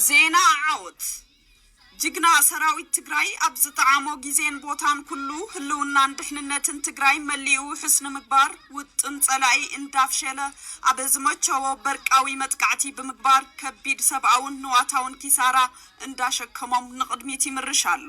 ዜና ዓወት! ጅግና ሰራዊት ትግራይ ኣብ ዝጠዓሞ ጊዜን ቦታን ኩሉ ህልውናን ድሕንነትን ትግራይ መሊኡ ውሑስ ንምግባር ውጥን ፀላኢ እንዳፍሸለ ኣብ ዝመቸዎ በርቃዊ መጥቃዕቲ ብምግባር ከቢድ ሰብኣውን ንዋታውን ኪሳራ እንዳሸከሞም ንቕድሚት ይምርሽ ኣሎ።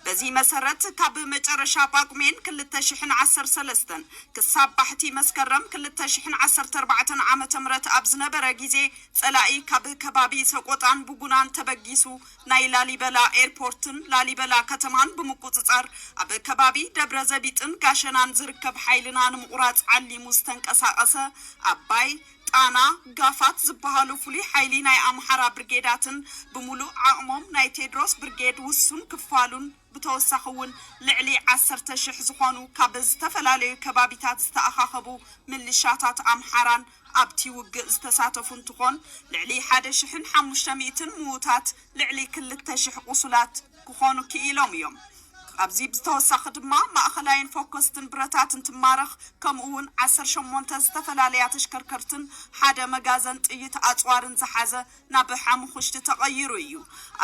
በዚ መሰረት ካብ መጨረሻ ጳጉሜን ክልተ ሽሕን ዓሰርተ ሰለስተን ክሳብ ባሕቲ መስከረም ክልተ ሽሕን ዓሰርተ ኣርባዕተን ዓመተ ምህረት ኣብ ዝነበረ ጊዜ ጸላኢ ካብ ከባቢ ሰቆጣን ቡጉናን ተበጊሱ ናይ ላሊበላ ኤርፖርትን ላሊበላ ከተማን ብምቁጽጻር ኣብ ከባቢ ደብረዘቢጥን ጋሸናን ዝርከብ ሓይልና ንምቑራጽ ዓሊሙ ዝተንቀሳቐሰ ኣባይ ጣና፣ ጋፋት፣ ዝበሃሉ ፍሉይ ሓይሊ ናይ ኣምሓራ ብርጌዳትን ብምሉእ ዓቕሞም ናይ ቴድሮስ ብርጌድ ውሱን ክፋሉን ብተወሳኺ እውን ልዕሊ ዓሰርተ ሽሕ ዝኾኑ ካብ ዝተፈላለዩ ከባቢታት ዝተኣኻኸቡ ምልሻታት ኣምሓራን ኣብቲ ውግእ ዝተሳተፉ እንትኾን ልዕሊ ሓደ ሽሕን ሓሙሽተ ሚእትን ምዉታት ልዕሊ ክልተ ሽሕ ቁሱላት ክኾኑ ክኢሎም እዮም። ካብዚ ብዝተወሳኺ ድማ ማእኸላይን ፎከስትን ብረታት እንትማረኽ ከምኡ እውን ዓሰርተ ሸሞንተ ዝተፈላለያ ተሽከርከርትን ሓደ መጋዘን ጥይት ኣፅዋርን ዝሓዘ ናብ ሓሙኹሽቲ ተቐይሩ እዩ።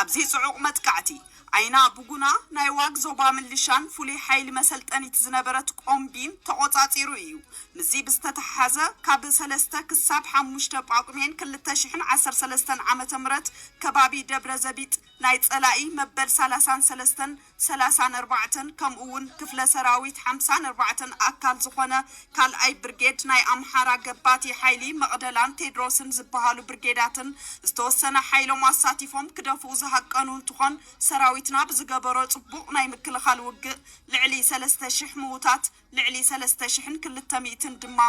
ኣብዚ ፅዑቕ መጥቃዕቲ ዓይና ብጉና ናይ ዋግ ዞባ ምልሻን ፍሉይ ሓይሊ መሰልጠኒት ዝነበረት ቆምቢን ተቖፃፂሩ እዩ። ምስዚ ብዝተተሓሓዘ ካብ ሰለስተ ክሳብ ሓሙሽተ ጳጉሜን ክልተ ሽሕን ዓሰርተ ሰለስተን ዓመተ ምህረት ከባቢ ደብረዘቢጥ ናይ ፀላኢ መበል ሰላሳን ሰለስተን ሰላሳን ኣርባዕተን ከምኡ እውን ክፍለ ሰራዊት ሓምሳን ኣርባዕተን ኣካል ዝኾነ ካልኣይ ብርጌድ ናይ ኣምሓራ ገባቲ ሓይሊ መቕደላን ቴድሮስን ዝበሃሉ ብርጌዳትን ዝተወሰነ ሓይሎም ኣሳቲፎም ክደፍኡ ዝሃቀኑ እንትኾን ሰራዊትና ብዝገበሮ ፅቡቕ ናይ ምክልኻል ውግእ ልዕሊ ሰለስተ ሽሕ ምውታት ልዕሊ ሰለስተ ሽሕን ክልተ ሚእትን ድማ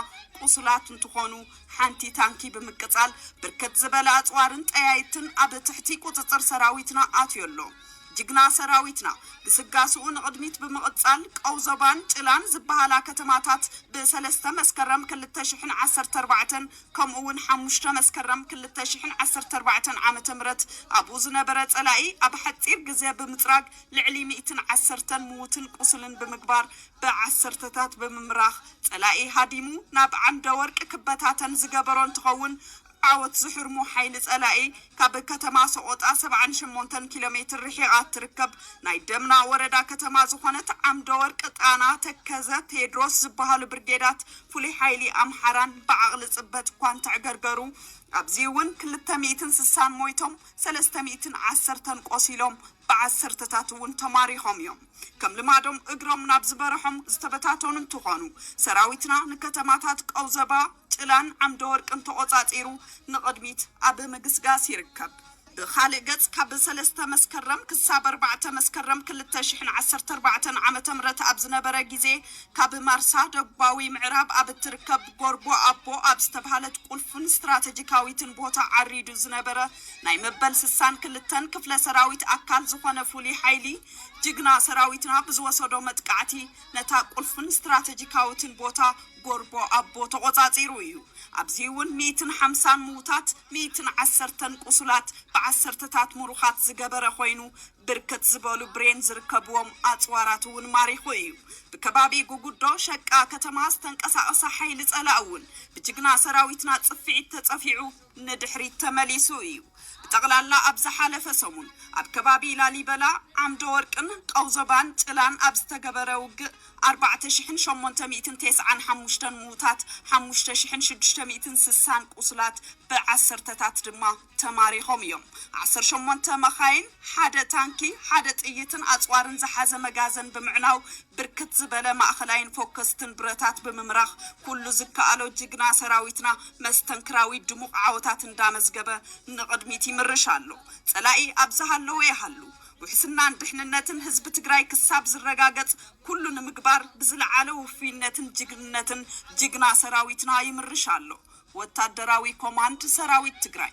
ቁሱላት እንትኾኑ፣ ሓንቲ ታንኪ ብምቅፃል ብርክት ዝበለ ኣፅዋርን ጠያይትን ኣብ ትሕቲ ቁፅፅር ሰራዊትና ኣትዮ ኣሎ። ጅግና ሰራዊትና ግስጋስኡ ንቕድሚት ብምቕፃል ቀውዞባን ጭላን ዝበሃላ ከተማታት ብ ሰለስተ መስከረም ክልተ ሽሕን ዓሰርተ ኣርባዕተን ከምኡ እውን ሓሙሽተ መስከረም ክልተ ሽሕን ዓሰርተ ኣርባዕተን ዓመተ ምህረት ኣብኡ ዝነበረ ፀላኢ ኣብ ሓፂር ግዘ ብምፅራግ ልዕሊ ሚእትን ዓሰርተን ምዉትን ቁሱልን ብምግባር ብዓሰርተታት ብምምራኽ ፀላኢ ሃዲሙ ናብ ዓንደ ወርቂ ክበታተን ዝገበሮ እንትኸውን፣ ዓወት ዝሕርሞ ሓይሊ ፀላኢ ካብ ከተማ ሰቖጣ ሰብዓን ሸሞንተን ኪሎ ሜትር ርሒቓ እትርከብ ናይ ደምና ወረዳ ከተማ ዝኾነት ዓምደ ወርቂ ጣና ተከዘ ቴድሮስ ዝበሃሉ ብርጌዳት ፍሉይ ሓይሊ ኣምሓራን ብዓቕሊ ፅበት እኳ እንተዕገርገሩ ኣብዚ እውን ክልተ ሚእትን ስሳን ሞይቶም ሰለስተ ሚእትን ዓሰርተን ቆሲሎም ብዓሰርተታት እውን ተማሪኾም እዮም። ከም ልማዶም እግሮም ናብ ዝበረሖም ዝተበታተኑ እንትኾኑ፣ ሰራዊትና ንከተማታት ቀውዘባ፣ ጭላን ዓምደወርቅን ተቖፃፂሩ ንቕድሚት ኣብ ምግስጋስ ይርከብ። ብኻልእ ገፅ ካብ ሰለስተ መስከረም ክሳብ ኣርባዕተ መስከረም ክልተ ሽሕን ዓሰርተ ኣርባዕተን ዓመተ ምህረት ኣብ ዝነበረ ጊዜ ካብ ማርሳ ደቡባዊ ምዕራብ ኣብ እትርከብ ጎርቦ ኣቦ ኣብ ዝተብሃለት ቁልፍን ስትራተጂካዊትን ቦታ ዓሪዱ ዝነበረ ናይ መበል ስሳን ክልተን ክፍለ ሰራዊት ኣካል ዝኾነ ፍሉይ ሓይሊ ጅግና ሰራዊትና ብዝወሰዶ መጥቃዕቲ ነታ ቁልፍን ስትራተጂካዊትን ቦታ ጎርቦ ኣቦ ተቖፃፂሩ እዩ። ኣብዚ እውን ሚኢትን ሓምሳን ምውታት ሚኢትን ዓሰርተን ቁሱላት ብዓሰርተታት ሙሩኻት ዝገበረ ኮይኑ ብርክት ዝበሉ ብሬን ዝርከብዎም ኣፅዋራት እውን ማሪኹ እዩ። ብከባቢ ጉጉዶ ሸቃ ከተማ ዝተንቀሳቐሰ ሓይሊ ፀላእ እውን ብጅግና ሰራዊትና ፅፍዒት ተፀፊዑ ንድሕሪት ተመሊሱ እዩ። ብጠቕላላ ኣብ ዝሓለፈ ሰሙን ኣብ ከባቢ ላሊበላ፣ ዓምደወርቅን ቀውዞባን ጭላን ኣብ ዝተገበረ ውግእ ኣርባዕተ ሽሕን ሸሞንተ ሚእትን ቴስዓን ሓሙሽተን ምዉታት፣ ሓሙሽተ ሽሕን ሽዱሽተ ሚእትን ስሳን ቁስላት፣ ብዓሰርተታት ድማ ተማሪኾም እዮም። ዓሰርተ ሸሞንተ መኻይን፣ ሓደ ታንኪ፣ ሓደ ጥይትን ኣጽዋርን ዝሓዘ መጋዘን ብምዕናው፣ ብርክት ዝበለ ማእኸላይን ፎከስትን ብረታት ብምምራኽ ኩሉ ዝከኣሎ ጅግና ሰራዊትና መስተንክራዊ ድሙቕ ዓወታት እንዳመዝገበ ንቕድሚት ይምርሽ ኣሎ። ፀላኢ ኣብ ዝሃለወ ይሃሉ ውሕስናን ድሕንነትን ህዝቢ ትግራይ ክሳብ ዝረጋገፅ ኩሉ ንምግባር ብዝለዓለ ውፉይነትን ጅግንነትን ጅግና ሰራዊትና ይምርሽ ኣሎ። ወታደራዊ ኮማንድ ሰራዊት ትግራይ።